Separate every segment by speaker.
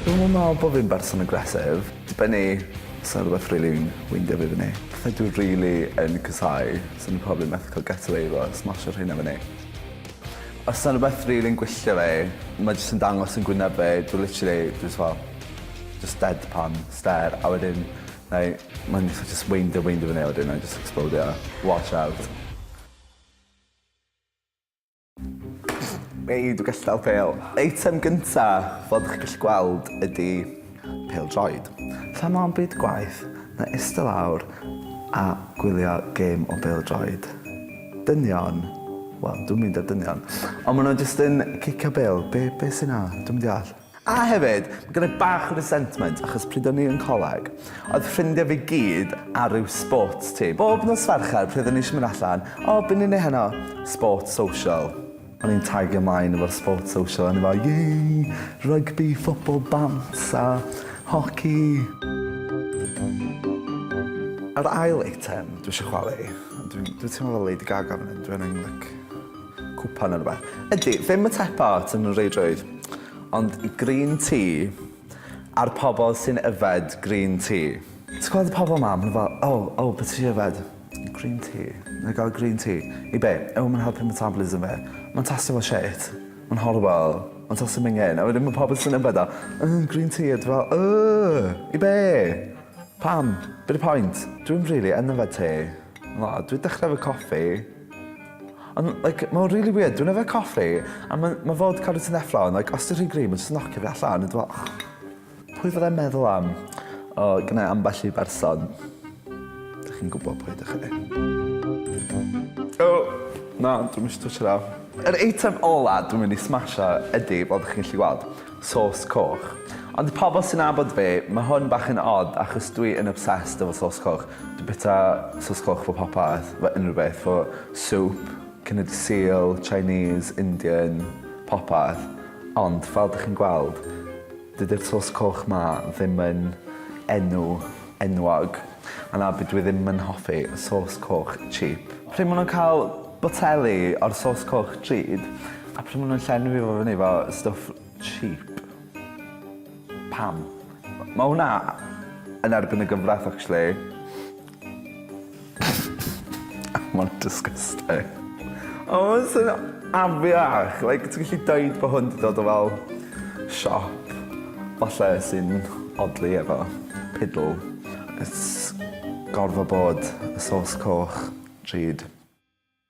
Speaker 1: Dwi'm yn me'wl bo' fi'n berson aggressive. Dibynnu os odd rwbeth rili'n weindio fi fyny. Pethe dwi rili yn casau swn i probably methu ca'l get away efo smasho rheina fyny. Os na rwbeth rili'n gwylltio fi ma' jyst yn dangos yn gwyneb fi dwi literally dwi jys fel jyst dead pan stare a wedyn mae ma'n fatha jyst weindio weindio fyny a wedyn na'i jyst ecsplowdio. Watch out. Ei dwi gystal pale. Eitem gynta' fel dych chi gallu gweld ydi pêl-droed. Lle ma'm byd gwaith na ista lawr a gwylio gêm o bêl-droed. Dynion, wel, dwi'm mynd ar dynion, ond ma' nhw jyst yn cicio bêl, be, be sy'n 'na? Dwi'm yn deall. A hefyd, ma' gen i bach o resentment achos pryd o'n i yn coleg, oedd ffrindiau fi gyd ar ryw sports team. Bob nos Fercher pryd o'n i eisiau mynd allan, 'O, be ni'n neud heno? Sport, social. O'n i'n tagu ymlaen efo'r sports social o'n i fel yay! Rygbi, ffwtbol, bant a hoci. Yr ail eitem dwi isio chwalu, dwi dwi teimlo fel Lady Gaga fan 'yn, dwi angen like cwpan ne' rwbeth, ydi ddim y tech part yn y reidrwydd ond green tea a'r pobol sy'n yfed green tea. Ti'n gweld y pobol 'ma ma' n'w fel oh oh be' ti isio yfed? Green tea. Na'i gael green tea. I be? Yw e ddim yn helpu metabolism fi? Mae'n tastio fel shit. Mae'n horrible. Mae'n tastio mingin. A wedyn ma' pawb yn swnio am betha Yrgh green tea a dwi fel Yrgh! I be? Pam? Be 'di point? Dwi'm rili yn yfed te. Na, dwi dechre efo coffi. Ond like mae o'n rili weird dwi'n yfed coffi a ma' ma' fodca 'da ti neffro ond like os 'di rhy gryf ma'n jyst yn nocio fi allan a dwi fel . Pwy fyddai'n meddwl am? O, gynna ambell i berson. Dych chi'n gwybod pwy ydych chi. O, na, dwi'n mis twtio na. Yr eitem ola dwi'n mynd i smasho ydy, fel dych chi'n gallu gweld, sos coch. Ond i pobl sy'n nabod fi, mae hwn bach yn odd achos dwi yn obsessed efo sos coch. Dwi'n bita sos coch fo popeth, fo unrhyw beth, fo soup, cynyd Sul, Chinese, Indian, popeth. Ond fel dych chi'n gweld, Dydy'r sos coch 'ma ddim yn enw enwog. A na, dwi ddim yn hoffi sos coch cheap. Pryd ma' nhw'n cael boteli o'r sos coch drud a pryd ma' nhw'n llenwi fo fyny 'fo stwff cheap? Pam? Ma' hwnna yn erbyn y gyfraith actually. Mae'n disgusting. O mae'n swnio afiach. Like ti'n gallu deud bod hwn 'di dod o fel siop falle sy'n odli efo pidl. It's gorfod bod y sauce coch drud.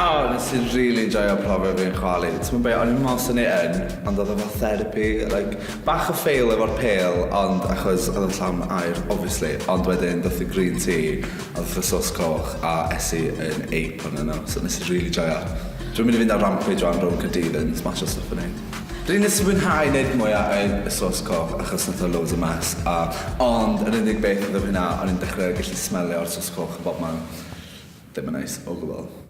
Speaker 1: Oh, nes i rili enjoio profiad fi'n chwalu. T'mod be' o'n i'n me'wl swn i yn, ond odd o fel therapi, like bach o fail efo'r pêl ond achos odd o'n llawn aer obviously, ond wedyn dath y green tea a dath y sauce coch a es i yn ape onyn nw, so nes i rili joio. Dwi'n mynd i fynd ar rampage rŵan rownd Caerdydd yn smasho stwff fyny. Dwi nes i fwynhau neud mwy a yy y sauce coch achos nath o loads o mess a ond yr unig beth odd yr hynna o'n i'n dechre gallu smelio'r sauce coch yn bobman. Ddim yn neis o gwbwl.